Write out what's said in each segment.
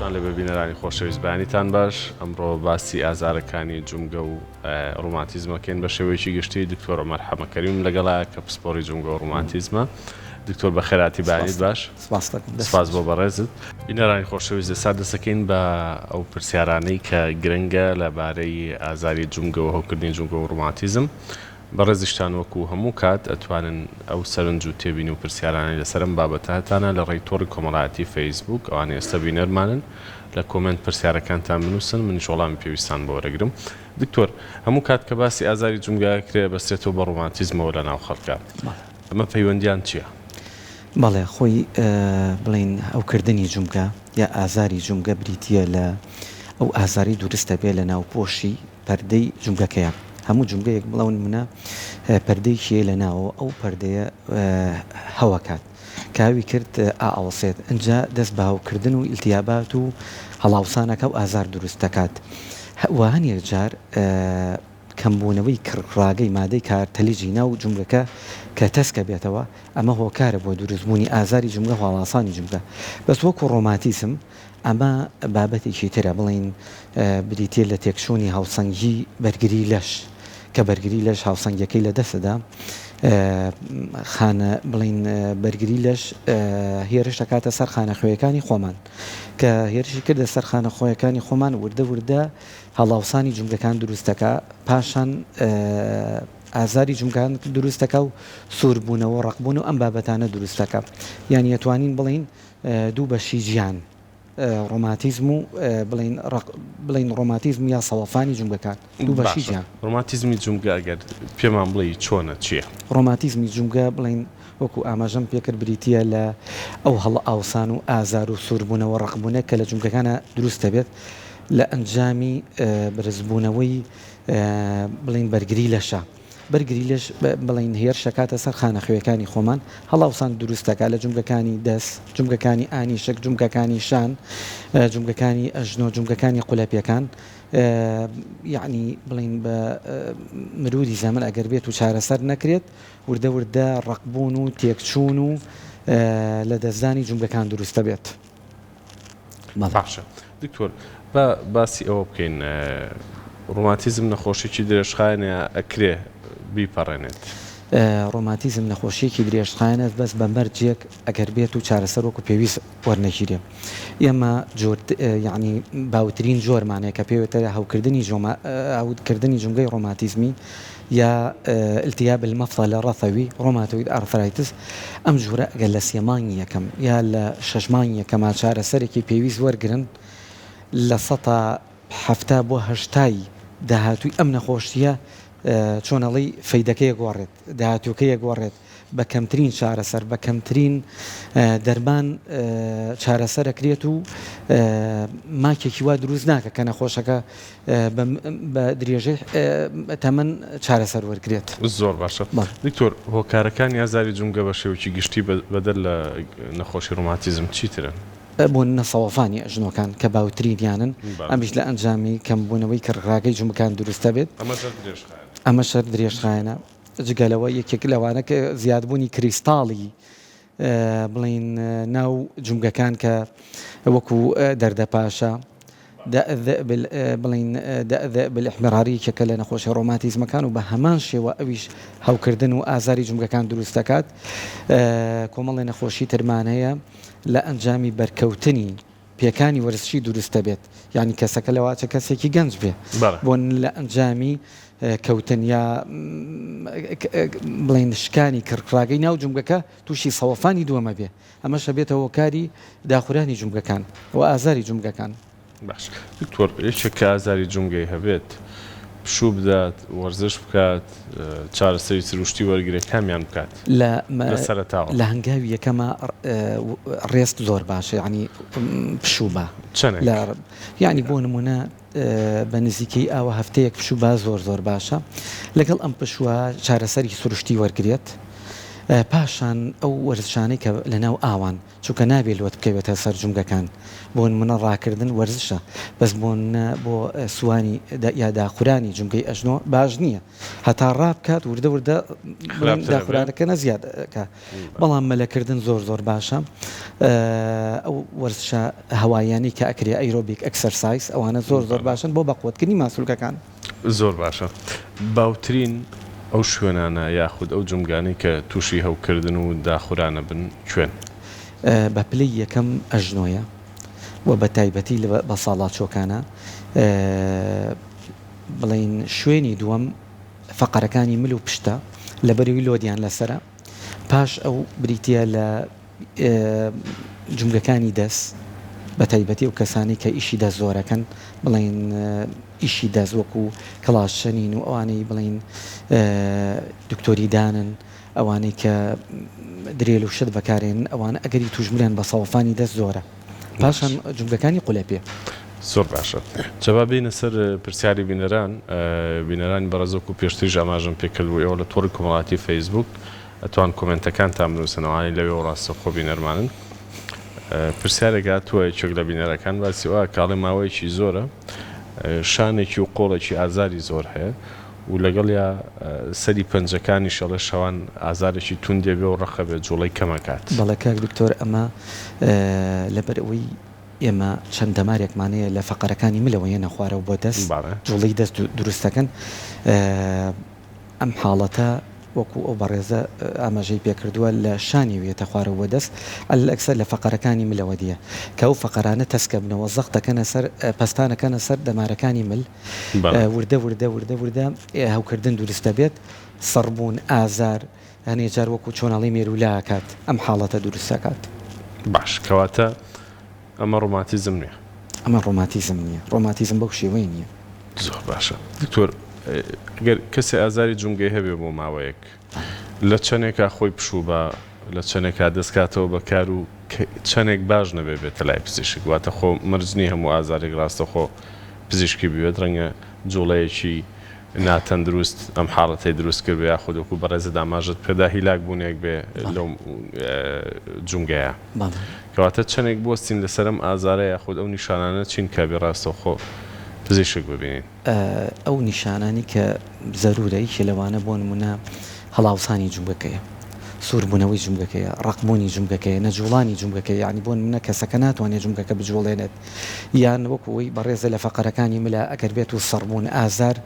سڵاوتان لێبێ بینەرانی خۆشەویست بەیانیتان باش ئەمڕۆ باسی ئازارەکانی جومگە و ڕوماتیزمەکەین بە شێوەیەکی گشتی دکتۆر عومەر حەمەکەریم لەگەڵا کە پسپۆری جومگە و ڕوماتیزمە دکتۆر بەخێراتی بەیانیت باش سپاس بۆ بەڕێزت بینەرانی خۆشەویست ئێستا دەسەکەین بە ئەو پرسیارانەی کە گرنگە لەبارەی ئازاری جومگە و هەوکردنی جومگە و ڕوماتیزم بەڕێزیشتان وەکو هەموو کات ئەتوانن ئەو سەرنج و تێبینی و پرسیارانەی لەسەر ئەم بابەتە هەتانە لە ڕێی تۆڕی کۆمەڵایەتی فەیسبووک ئەوانەی ئێستا بینەرمانن لە کۆمێنت پرسیارەکانتان بنووسن منیش وەڵامی پێویستان بۆ وەرەگرم. دکتۆر هەموو کات کە باسی ئازاری جومگە ئەکرێ ئەبەسترێتەوە بە ڕۆماتیزمەوە لە ناو خەڵکا ئەمە پەیوەندیان چیە؟ بەڵێ خۆی بڵێین ئەو کردنی جومگە یا ئازاری جومگە بریتیە لە ئەو ئازارەی دورست ئەبێ لە ناوپۆشی پەردەی جومگەکەیە هەموو جومگەیەک بڵاو نمونە پەردەیەکی هەیە لە ناوەوە ئەو پەردەیە هەوەکات کاوی کرد ئاوەسێت ئەجا دەست بە هەوکردن و ئیلتیابات و هەڵاوسانەکە و ئازار دروست دەکات و هەنێک جار کەمبوونەوەی کڕڕاگەی مادەی کارتەلیجی ناو جومگەکە کە تەسکە بێتەوە ئەمە هۆکارە بۆ دروستبوونی ئازاری جومگە و هەڵاسانی جومگە بەس وەکو ڕۆماتیسم ئەمە بابەتێکی ترە، بڵێین بریتییە لە تێکچوونی هاوسەنگی بەرگری لەش، کە بەرگری لەش هاوسەنگیەکەی لە دەست دەدا. خانە، بڵێین بەرگری لەش هێرش دەکاتە سەر خانە خوێیەکانی خۆمان، کە هێرشی کردە سەر خانە خۆیەکانی خۆمان وردە وردە هەڵاوسانی جومگەکان دروست دەکا، پاشان ئازاری جومگان دروست دەکا و سووربوونەوە و ڕەقبوون و ئەم بابەتانە دروست دەکا. یانی ئەتوانین بڵێین دوو بەشی جیان، ڕۆماتیزم و بڵێین ڕەق، بڵێین ڕۆماتیزم یا سەوەفانی جومگەکان، دوو بەشی جیان. باشە ڕۆماتیزمی جومگە ئەگەر پێمان بڵێی چۆنە، چییە؟ ڕۆماتیزمی جومگە بڵێین وەکو ئاماژەم پێکرد بریتییە لە ئەو هەڵئاوسان و ئازار و سووربوونە و ڕەقبوونە کە لە جومگەکانا دروست دەبێت لە ئەنجامی بەرزبوونەوەی بڵێین بەرگری لەشە. بەرگری لەش بڵێین هێرش دەکاتە سەر خانەخوێکانی خۆمان، هەڵاوسان دروست دەکات لە جومگەکانی دەست، جومگەکانی ئانیشک، جومگەکانی شان، جومگەکانی ئەژنۆ، جومگەکانی قولەپێکان، یەعنی بڵێین بە مروری زەمەن ئەگەر بێت و چارەسەر نەکرێت وردە وردە ڕەقبوون و تێکچوون و لە دەستدانی جومگەکان دروست دەبێت. باشە دکتۆر با باسی ئەوە بکەین ڕۆماتیزم نەخۆشیی درێژخایەنە ئەکرێ بیپەڕێنێت؟ ڕۆماتیزم نەخۆشییەکی درێژخایەنە بەس بە مەرجێک ئەگەر بێت و چارەسەر وەکو پێویست وەرنەگیرێ ئێمە جۆر یەعنی باوترین جۆرمان هەیە کە پێێتە هەوکردنی جۆما هەوکردنی جومگەی ڕۆماتیزمی یا التیاب المفصل الرفوی، ڕۆماتۆید ئارثرایتس، ئەم جورە ئەگەر لە سێ مانگی یەکەم یا لە شەش مانگی یەکەما چارەسەرێکی پێویست وەرگرن لە سەتا حەفتا بۆ هەشتا ی داهاتووی ئەم نەخۆشیە چۆنەڵی فەیدەکەی ئەگۆڕێت داهاتووەکەی ئەگۆڕێت. بە کەمترین چارەسەر، بە کەمترین دەرمان چارەسەر ئەکرێت و ماکێکی وا دروست ناکە کە نەخۆشەکە بە درێژەی تەمەن چارەسەر وەرگرێت. زۆر باشە دکتۆر هۆکارەکانی ئازاری جومگە بە شێوەکی گشتی بەدەر لە نەخۆشی ڕۆماتیزم چی ترن؟ بۆننە سەوەفانی ئەژنۆکان کە باوترینیانن ئەمیش لە ئەنجامی کەمبوونەوەی کڕکراگەی جومگەکان دروست دەبێت ئەمەشەر درێژخایەنە. جگە لەوە یەکێک لەوانە کە زیادبوونی کریستاڵی بڵێن ناو جومگەکان کە وەکو دەردە پاشە بڵین بلحمراری کەکە لە نەخۆشی ڕۆماتیزمەکان و بە هەمان شێوە ئەویش هەوکردن و ئازاری جمگەکان دروست دەکات کۆمەڵی نەخۆشی ترمان هەیە لە ئەنجامی بەرکەوتنی پێکانی وەرزشی دروست دەبێت یانی کەسەکە لەواچە کەسێکی گەنج بێ بۆن لە ئەنجامی کەوتن یا بڵین شکانی کڕکراگەی ناو جمگەکە تووشی سەوەفانی دووەمە بێ ئەمەشە بێتە هۆکاری داخورانی جمگەکان و ئازاری جمگەکان باش دکتۆر یەکێک کە ئازاری جمگەی هەبێت پشوو بدات وەرزش بکات چارەسەری سروشتی وەرگرێت کامیان بکات لە سەرەتاوە؟ لە هەنگاوی یەکەما ڕێست زۆر باشە یعنی پشوو با یعنی بۆ نمونە بە نزیکەی ئاوە هەفتەیەک پشوو با زۆر زۆر باشە لەگەڵ ئەم پشووە چارەسەری سروشتی وەرگێت پاشان ئەو وەرزشانەی کە لە ناو ئاوان چونکە نابێ لۆت بکەوێتە سەر جومگەکان بۆنمونە ڕاکردن وەرزشە بەس بۆنمونە بۆ سوانی یا داخورانی جومگەی ئەژنۆ باش نیە هەتا ڕابکات وردە وردە داخورانەکەنە زیاد کا بەڵام مەلەکردن زۆر زۆر باشە ئەو وەرزشە هەواییانەی کە ئەکرێ ئەیرۆبیک ئەکسەرسایز ئەوانە زۆر زۆر باشن بۆ بەقوەتکردنی ماسولکەکان. زۆر باشە باوترین ئەو شوێنانە یاخود ئەو جومگانەی کە توشی هەوکردن و داخورانە بن کوێن؟ بە پلەی یەکەم ئەژنۆیە و بە تایبەتی لە بەساڵاچۆکانە بڵێین شوێنی دووەم فەقەرەکانی مل و پشتە لەبەروی لۆدیان لەسەرە. پاش ئەو بریتییە لە جومگەکانی دەست، بەتایبەتی ئەو کەسانەی کە ئیشی دەست زۆرەکەن، بڵێین ئیشی دەست وەکو کڵاشچنین و ئەوانەی بڵێین دکتۆری دانن، ئەوانەی کە درێل و شت بەکارێنن ئەوانە ئەگەری توشبونیان بە سەوەفانی دەست زۆرە. پاشان جومگەکانی قولەپێ. زۆر باشە جا با بێینە سەر پرسیاری بینەران بینەرانی بەڕێز وەکو پێشتریش ئاماژەم پێکرد بوو ئێوە لە تۆڕی کۆمەڵاتی فەیسبووک ئەتوان کۆمێنتەکانتان بنووسن ئەوانەی لەوێوە ڕاستەوخۆ بینەرمانن پرسیارێک هاتووە یەکێک لە بینەرەکان باسی ئەوە کاڵێ ماوەیەکی زۆرە شانێکی و قۆڵێکی ئازاری زۆر هەیە و لەگەڵیا سەری پەنجەکانیش ئەڵێ شەوان ئازارێکی توندێ بێ و ڕەقە بێ جوڵەی کەم ئەکات. بەڵێ کاک دکتۆر ئەمە لەبەر ئەوەی ئێمە چەند دەمارێکمان هەیە لە فەقەرەکانی ملەوە یەنە خوارەوە بۆ دەست جوڵەی دەست دروست دەکەن ئەم حاڵەتە وەکو ئەو بەڕێزە ئاماژەی پێ کردووە لە شانی و یەتە خوارەوە بۆ دەست عەلەل ئەکسەر لە فەقەرەکانی ملەوە دیە کە ئەو فەقەرانە تەسکە بنەوە زەق دەکەنە سەر پەستانەکەنە سەر دەمارەکانی مل وردە وردە وردە وردە هەوکردن دورست دەبێت سڕبوون ئازار هەنێ جار وەکو چۆنەڵی مێرولا ئەکات ئەم حاڵەتە دورست ئەکات. باش کەواتە ئەمە ڕۆماتیزم نیە. ئەمە ڕۆماتیزم نیە ڕۆماتیزم بەو شێوەیە نیە. زۆر باشە دکتۆر گەر کەسێ ئازاری جومگەی هەبێ بۆ ماوەیەک. لە چەنێکا خۆی پشوو با، لە چەنێکا دەست کاتەوە بە کار و چەنێک باش نەبێ بێتە لای پزیشک. واتە خۆ مەرج نییە هەموو ئازارێک ڕاستەوخۆ پزیشکی بوێت، ڕەنگە جووڵەیەکی ناتەندروست ئەم حاڵەتەی دروست کردبێ یاخود وەکوو بەڕێزت ئاماژەت پێ دا هیلاک بوونێک بێ لەو جومگەیە. کەواتە چەنێک بوەستین لەسەر ئەم ئازارە یاخود ئەو نیشانانە چین کە ئەبێ ڕاستەوخۆ پزیشک ببینین. ئەو نیشانانەی کە زەروورە یەکێ لەوانە بۆ نموونە هەڵاوسانی جومگەکەیە، سووربوونەوەی جومگەکەیە، ڕەقبوونی جومگەکەیە، نەجووڵانی جومگەکەیە یانی بۆ نموونە کەسەکە ناتوانێت جومگەکە بجووڵێنێت یان وەکوو ئەوەی بەڕێزە لە فەقەرەکانی ملا ئەگەر بێت و سڕبوون ئازار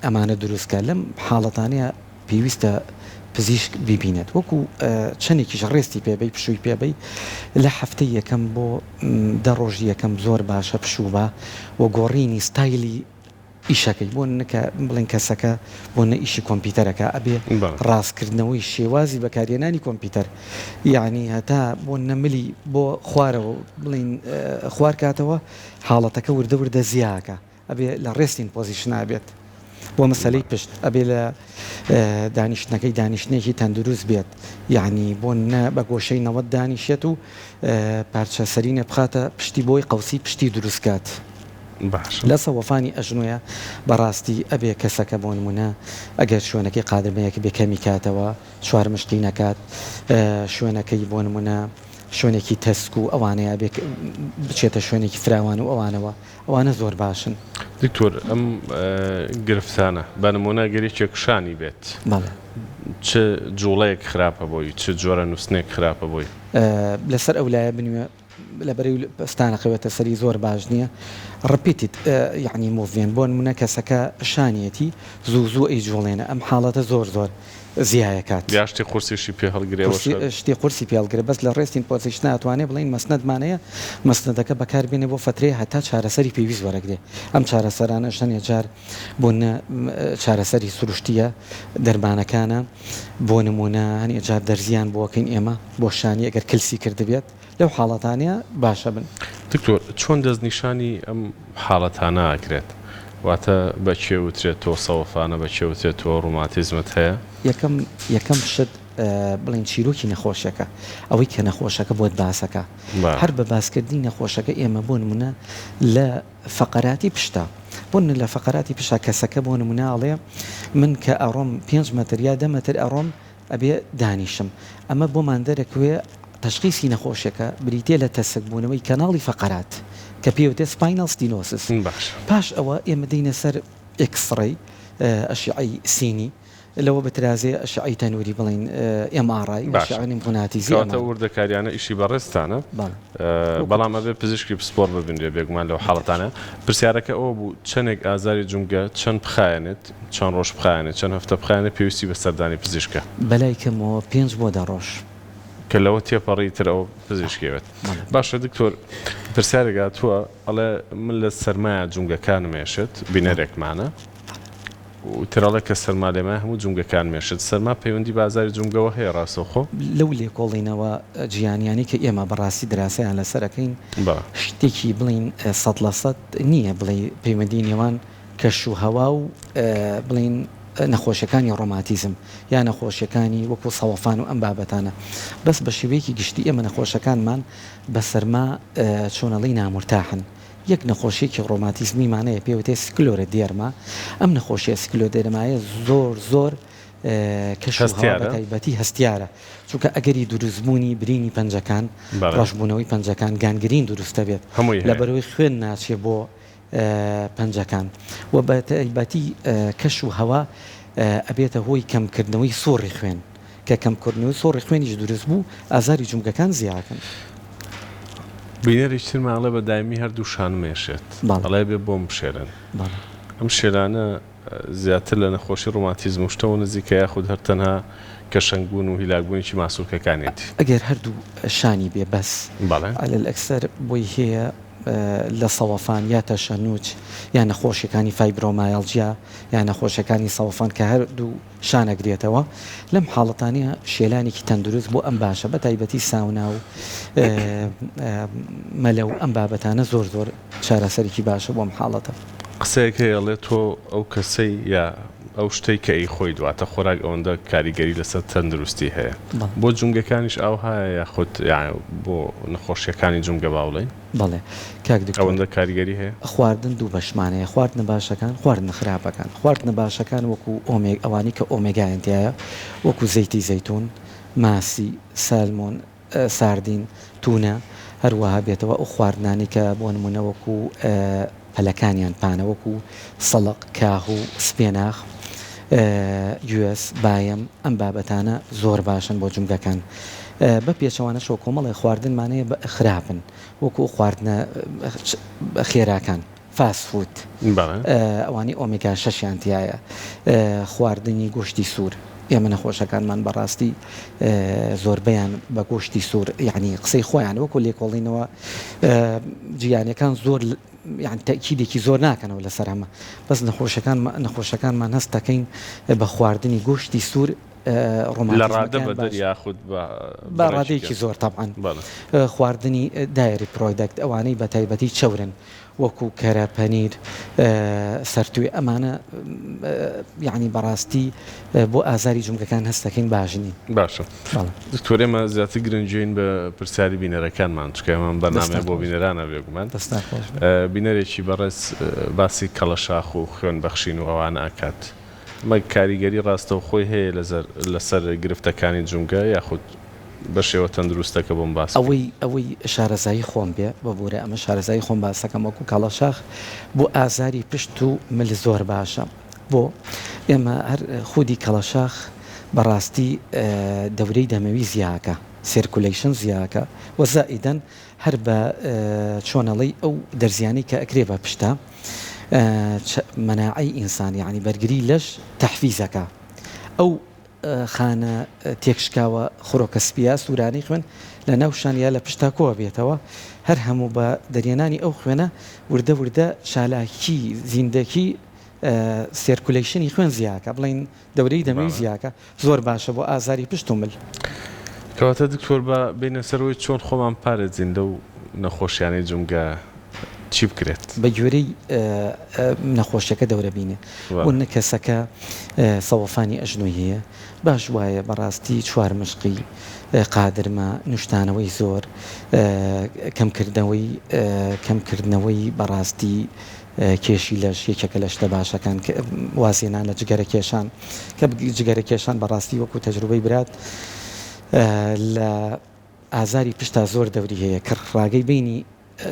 ئەمانە دروست کات لەم حاڵەتانەیا پێویستە پزیشک بیبینێت وەکو چەنێکیش ڕێستی پێبەی پشووی پێبەی لە هەفتەی یەکەم بۆ دە ڕۆژی یەکەم زۆر باشە پشووبە و گۆڕینی ستایلی ئیشەکەی بۆ نکە بڵێن کەسەکە بۆ نە ئیشی کۆمپیوتەرەکە ئەبێ ڕاستکردنەوەی شێوازی بەکارێنانی کۆمپیوتەر یعنی هەتا بۆ نەملی بۆ خوارەوە بڵین خوارکاتەوە حاڵەتەکە وردە وردە زیاکە ئەبێ لە ڕێستین پۆزیشنا بێت بۆ مەسەلەی پشت ئەبێ لە دانیشتنەکەی دانیشتنێکی تەندروست بێت یعنی بۆ نە بە گۆشەی نەوەت دانیشێت و پارچە سەرینە بخاتە پشتی بۆی قەوسی پشتی دروستکات لە سەوەفانی ئەژنۆە بەڕاستی ئەبێ کەسەکە بۆ نمونە ئەگەر شوێنەکەی قادرمەیەک بێ کەمی کاتەوە چوار مشتی نەکات شوێنەکەی بۆ نمونە شوێنێکی تەسک و ئەوانەیە بچێتە شوێنێکی فراوان و ئەوانەوە ئەوانە زۆر باشن. دکتۆر ئەم گرفتانە بە نمونە گەر یەکێک شانی بێت چ جوڵەیەک خراپە بۆی چ جۆرە نوستنێک خراپە بۆی؟ لەسەر ئەو لایە بنوێ لە بەرەی پەستانەکە بێتە سەری زۆر باش نییە ڕپیتیت یعنی موڤمێنت بۆ نمونە کەسەکە شانیەتی زوو زوو ئەیجوڵێنە ئەم حاڵەتە زۆر زۆر زیایەکات. یا شتی قورسیشی پێ هەڵگرێ وە شەر. شتی قورسی پێ هەڵگرێ بەس لە ڕێستین پۆزیشنە ئەتوانێ بڵێین مەسنەدمانەیە مەسنەدەکە بەکار بێنێ بۆ فەترەیە هەتا چارەسەری پێویست وەرەگرێ ئەم چارەسەرانەش هەنێ جار بۆ نە چارەسەری سروشتیە دەرمانەکانە بۆ نمونە هەنێ جار دەرزیان بۆکەین ئێمە بۆ شانی ئەگەر کلسی کردبێت. لەو حاڵەتانە باشە بن. دکتۆر چۆن دەستنیشانی ئەم حاڵەتانە ئەکرێت؟ واتە بە کێ وترێت تۆ سەوفانە بە کێ وترێت تۆ ڕوماتیزمت هەیە؟ یەکەم یەکەم شت بڵێن چیرۆکی نەخۆشەکە ئەوەی کە نەخۆشەکە بۆت باسەکە هەر بە باسکردنی نەخۆشەکە ئێمە بۆ نمونە لە فەقەراتی پشتا بۆ نە لە فەقەراتی پشا کەسەکە بۆ نمونە ئەڵێ من کە ئەڕۆم پێنج مەتر یا دە مەتر ئەڕۆم ئەبێ دانیشم ئەمە بۆمان دەرەکوێ تەشخیسی نەخۆشێکە بریتیە لە تەسک بوونەوەی کەناڵی فەقەرات کە پێی وتێ سپاینەڵ ستینۆسس پاش ئەوە ئێمە دێینە سەر ئێکسڕەی ئەشیعەی سینی لەوە بترازێ ئەشیعەی تەنووری بڵێین ئێم ئاڕ ئای باشە کەواتە وردەکاریانە ئیشی بەڕێزتانە بەڵام ئەبێ پزیشکی پسپۆڕ ببینرێ بێگومان لەو حاڵەتانە پرسیارەکە ئەوە بوو چەنێک ئازاری جومگە چەند بخایەنێت؟ چەند ڕۆژ بخایەنێت، چەند هەفتە بخایەنێت پێویستی بە سەردانی پزیشکە. بەلای کەمەوە پێنج بۆ دە ڕۆژ. کە لەوە تێپەڕی تر ئەوە پزیشکی ئەوێت. باشە دکتۆر پرسیارێک هاتووە ئەڵێ من لە سەرمایە جومگەکانم ئێشێت بینەرێکمانە و تر ئەڵێ کە سەرما لێمایە هەموو جومگەکانم ئێشێت سەرما پەیوەندی بە ئازاری جومگەوە هەیە ڕاستەوخۆ؟ لەو لێکۆڵینەوە جیهانیانەی کە ئێمە بەڕاستی دراسەیان لەسەر ئەکەین شتێکی بڵێین سەد لە سەد نییە بڵێی پەیوەندی نێوان کەش و هەوا و بڵێین نەخۆشیەکانی ڕۆماتیزم یا نەخۆشیەکانی وەکو سەوەفان و ئەم بابەتانە بەس بە شێوەیەکی گشتی ئێمە نەخۆشەکانمان بە سەرما چۆنەڵی نامورتاحن یەک نەخۆشیێکی ڕۆماتیزمیمانەیە پێوتێ سکلۆرە دێرما ئەم نەخۆشیە سکلۆ دێرمایە زۆر زۆر کەشتایبەتی هەستیارە چونکە ئەگەری دروستبوونی برینی پەنجەکان ڕژبوونەوەی پەنجەکان گانگرین دروستە بێت لە بەرەوەی خوێن ناچێ بۆ پەنجەکان و بە تایبەتی کەش و هەوا ئەبێتە هۆی کەم کردنەوەی سوڕی خوێن کە کەم کردنەوەی سوڕی خوێنیش دروست بوو ئازاری جومگەکان زیادەکەن. بینەریش ترمان ئەڵێ بە دایمی هەردوو شانم ئێشێت ئەڵێ بێ بۆم بشێرن ئەم شێرانە. زیاتر لە نەخۆشی ڕوماتیزم و شتەوە نزیکە یاخود هەر تەنها کەشەنگ بوون و هیلاک بوونێکی ماسولکەکانیەتی؟ ئەگەر هەردوو شانی بێ بەس بەڵێ. عەلە الئەکسەر بۆی هەیە لە سەوەفان یا تەشەنوج یا نەخۆشیەکانی فایبرۆمایەڵجیا یا نەخۆشیەکانی سەوەفان کە هەردوو شانەگرێتەوە، لەم حاڵەتانە شێلانێکی تەندروست بۆ ئەم باشە بە تایبەتی ساونا و مەلە و ئەم بابەتانە زۆر زۆر چارەسەرێکی باشە بۆ ئەم حاڵەتە. قسەیەک هەیە ئەڵێ تۆ ئەو کەسەی یا ئەو شتەی کە ئەیخۆیت واتە خۆراک ئەوەندە کاریگەری لەسەر تەندروستی هەیە بۆ جومگەکانیش ئاوهایە یاخود بۆ نەخۆشیەکانی جومگە با بڵێین؟ بەڵێ کاک دکتۆر. ئەوەندە کاریگەری هەیە؟ خواردن دوو بەشمان هەیە خواردنە باشەکان خواردنە خراپەکان خواردنە باشەکان وەکو ئۆمێگ ئەوانەی کە ئۆمێگایان تیایە وەکو زەیتی زەیتون ماسی سالمۆن ساردین تونە هەروەها بێتەوە ئەو خواردنانەی کە بۆ نمونە وەکو پەلەکانیان پانە وەکوو، سڵق، کاهو، سپێناخ، گوێز، بایەم، ئەم بابەتانە زۆر باشن بۆ جومگەکان بە پێچەوانەشەوە کۆمەڵێ خواردنمان هەیە بە خراپن وەکوو خواردنە خێراکان، فاست فود، ئەوانەی ئۆمیگا شەشیان تیایە، خواردنی گۆشتی سوور. ئێمە نەخۆشەکانمان بەڕاستی زۆربەیان بە گۆشتی سوور یعنی قسەی خۆیان وەکو لێکۆڵینەوە جیانەکان زۆر یان تەکیدێکی زۆر ناکەنەوە لەسەر ئەمە بەس نەخۆشەکان نەخۆشەکانمان هەست دەکەین بە خواردنی گۆشتی سوور ڕۆمانڕادەبەدەر یاخود بەڕادێکی زۆر تاعاان خواردنی دایری پرۆیدەکت ئەوانەی بە تایبەتی چەورن وەکو کەرە پەنیر سەرتوێ ئەمانە یانی بەڕاستی بۆ ئازاری جومگەکان هەستەکەین باش نین. باشە دکتۆر ئێمە زیاتر گرنگین بە پرسیاری بینەرەکانمان چکە ئەمان بەنامێ بۆ بینەرانە بێگومان بینەرێکی بەڕێز باسی کەڵەشاخ و خوێن بەخشین و ئەوانە ئەکات مە کاریگەری ڕاستەوخۆی هەیە لەسەر گرفتەکانی جومگە یاخود بەشێوە تەندروستەکە بۆم باس بکەی. ئەوەی ئەوەی شارەزایی خۆم بێ ببورە ئەمە شارەزایی خۆم باس دەکەم وەکو کاڵاشاخ بۆ ئازاری پشت و مل زۆر باشە بۆ ئێمە هەر خودی کەڵەشاخ بەڕاستی دەورەی دەمەوی زیاکە سێرکولەیشن زیاکە وە زائیدەن هەر بە چۆنەڵی ئەو دەرزیانەی کە ئەکرێ بە پشتە مەناعەی ئینسان یەعنی بەرگری لەش تەحفیزەکە ئەو خانە تێکشکاوە خرۆکە سپییە سوورانەی خوێن لە ناو شان یا لە پشت تا کۆ ئەبێتەوە، هەر هەموو بە دەریێنانی ئەو خوێنە وردە وردە چالاکی زیندەکی سێرکولەیشنی خوێن زیا ئەکا، بڵێین دەورەی دەمی زیا ئەکا، زۆر باشە بۆ ئازاری پشت و مل. کەواتە دکتۆر با بێینە سەرەوەی چۆن خۆمان بپارێزین لەو نەخۆشیانەی جومگە چی بکرێت؟ بە گوێرەی نەخۆشیەکە دەورە بینێ و نە کەسەکە سەوەفانی ئەژنۆی هەیە باش وایە بەڕاستی چوار مشقی قادرمە نوشتانەوەی زۆر کەمکردنەوەی کەمکردنەوەی بەڕاستی کێشی لەش یەکێکە لە شتە باشەکان وازێنان لە جگەرە کێشان کە جگەرە کێشان بەڕاستی وەکو تەجروبەی برات لە ئازاری پشتا زۆر دەوری هەیە کڕ ڕاگەی بینی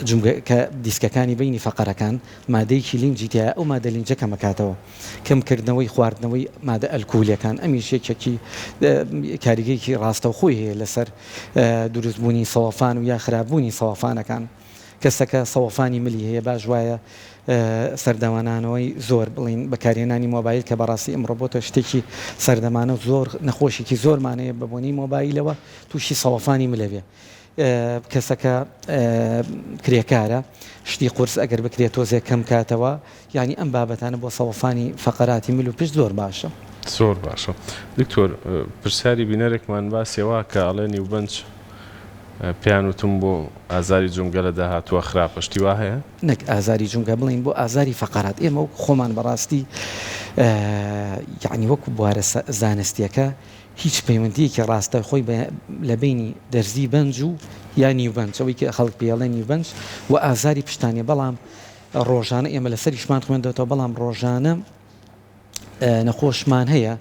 جومگە کە دیسکەکانی بینی فەقەرەکان مادەیەکی لینجی تیایە ئەو مادە لینجە کەمەکاتەوە کەم کردنەوەی خواردنەوەی مادە ئەلکولیەکان ئەمیش یەکێکی کاریگەیەکی ڕاستەوخۆی هەیە لەسەر دروست بوونی سەوەفان و یا خراپ بوونی سەوەفانەکان. کەسەکە سەوەفانی ملی هەیە باش وایە سەردەمانانەوەی زۆر بڵین بەکارهێنانی مۆبایل کە بەڕاستی ئەمڕۆ بۆتە شتێکی سەردەمانە و زۆر نەخۆشێکی زۆرمانەیە بە بۆنی مۆبایلەوە تووشی سەوەفانی ملەوێ کەسەکە کرێکارە شتی قرس ئەگەر بکرێت تۆزێک کەم کاتەوە یانی ئەم بابەتانە بۆ سەوەسانی فەقەراتی مل و پشت زۆر باشە. زۆر باشە دکتۆر پرسیاری بینەرێکمان باسی ئەوە کە ئەڵێ نیوبەنج پێیان وتم بۆ ئازاری جومگە لە داهاتووە خراپە شتی وا هەیە؟ نەک ئازاری جومگە بڵێین بۆ ئازاری فەقەرات ئێمە وەکو خۆمان بەڕاستی یانی وەکو بوارە زانستیەکە هیچ پەیوەندیەکی ڕاستە خۆی لە بینی دەرزی بەنج و یا نیوبەنج ئەوەی کە خەڵک پێڵێ نیوبەنج و ئازاری پشتانێ بەڵام ڕۆژانە ئێمە لەسەریشمان خوێندەتەوە بەڵام ڕۆژانە نەخۆشمان هەیە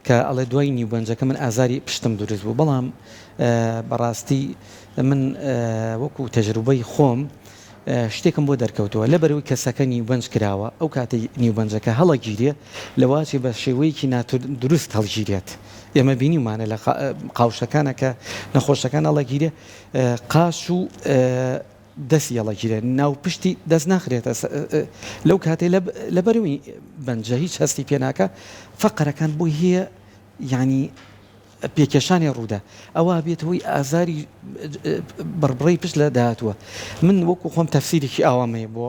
کە ئەڵێ دوای نیوبەنجەکە من ئازاری پشتم دروست بوو بەڵام بەڕاستی من وەکو تەجروبەی خۆم شتێکم بۆ دەرکەوتووە لە بەرەوەی کەسەکە نیوبەنج کراوە ئەو کاتی نیوبەنجەکە هەڵەگیرێ لەواچێ بە شێوەیەکی ناتور دروست هەڵگیرێت ئێمە بینیمانە لە قاوشەکانە کە نەخۆشەکان هەڵەگیرێ قاش و دەست یەڵە گیرێ ناو پشتی دەست ناخرێتە سە لەو کاتەی لە لە بەروی بەنجە هیچ هەستی پێ ناکا فە قەرەکان بۆی هەیە یانی پێ کێشانێ ڕوودا ئەوە بێت هۆی ئازاری بڕبڕەی پشت لە داهاتووە من وەکو خۆم تەفسیرێکی ئاوامەیە بۆ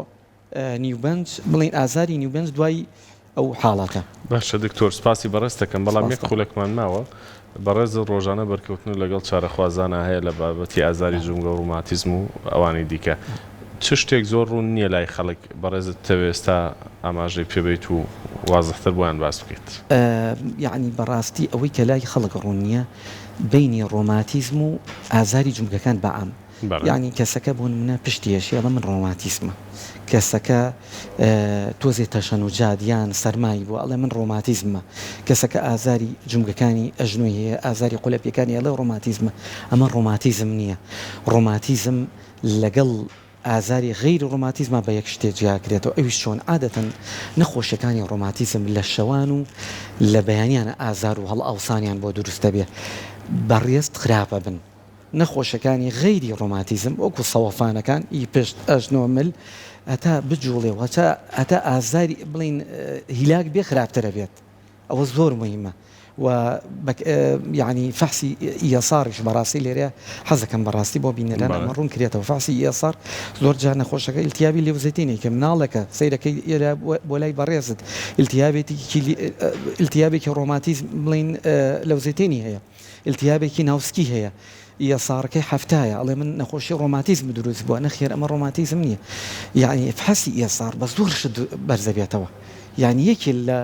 نیوبەنج بڵێین ئازاری نیوبەنج دوای ئەو حاڵەتە. باشە دکتۆر سپاسی بەڕێز تەکەم بەڵام یەک خولەکمان ماوە بەڕێزت ڕۆژانە بەرکەوتن لەگەڵ چارەخوازانا هەیە لە بابەتی ئازاری جومگەو ڕوماتیزم و ئەوانی دیکە چ شتێک زۆر ڕوون نیە لای خەڵک بەڕێزت بتەوێ ئستا ئاماژەی پێ بەیت و وازحتر بۆیان باس بکەیت. یەعنی بەڕاستی ئەوەی کە لای خەڵک ڕوون نیە بەینی ڕۆماتیزم و ئازاری جومگەکان بەعام. یانی کەسەکە بۆ نمونە پشتی ئەشێ ئەڵێ من ڕۆماتیسمە کەسەکە تۆزێ تەشەن و جاد یان سەرمای بوە ئەڵێ من ڕۆماتیزممە کەسەکە ئازاری جومگەکانی ئەژنۆی هەیە ئازاری قولەپیەکانی ئەڵێ ڕۆماتیزمە ئەمە ڕۆماتیزم نیە ڕۆماتیزم لەگەڵ ئازاری غەیری ڕۆماتیزما بە یەک شتێ جیاکرێتەوە ئەویش چۆن عادەتەن نەخۆشیەکانی ڕۆماتیزم لە شەوان و لە بەیانیانە ئازار و هەڵئاوسانیان بۆ دروست دەبێ بەڕێز خراپە بن. نەخۆشەکانی غەیری ڕۆماتیزم وەکو سەوەفانەکان ی پشت، ئەژنۆ، مل هەتا بجوڵێ و هەتا ئازاری بڵێین هیلاک بێ خراپترە بێت ئەوە زۆر موهیمە و یانی فەحسی ESR-یش بەڕاستی لێرە حەزەکەم بەڕاستی بۆ بینەران ئەمە ڕوون کرێتەوە فەحسی ESR زۆر جار نەخۆشەکە ئیلتیابی لێوزەتینەی کە مناڵەکە سەیرەکەی ئێرە بۆ لای بەڕێزت ئیلتیابێتیکی ئیلتیابێکی ڕۆماتیزم بڵێین لەوزەتێنی هەیە. ئیلتیابێکی ناو سکی هەیە یە ساڕکەی حەفتایە ئەڵێ من نەخۆشی ڕۆماتیزم دروست بوە نەخێر ئەمە ڕۆماتیزم نیە یەعنی ئیفحەسی یە ساڕ بە زۆر شت بەرزەبێتەوە یەعنی یەکێ لە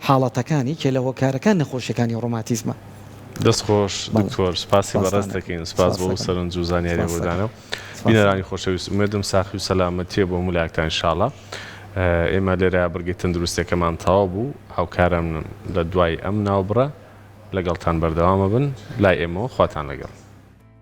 حاڵەتەکان یەکێ لە هۆکارەکان نەخۆشیەکانی ڕۆماتیزمە. دەست خۆش دکتۆر سپاسی بەڕێز دەکەین سپاس بۆ ئەو سەرنج و زانیاریە بۆدانە بینەرانی خۆشەویست ئومێدم ساخی و سەلامەتیە بۆ هەموو لایەکتان ان شاءاللە. ئێمە لێرە بڕگەی تەندروستیەکەمان تەواو بوو، هاوکارانم لە دوای ئەم ناوبڕە لەگەڵتان بەردەوامەبن لای ئێمەوە خواتان لەگەڵ.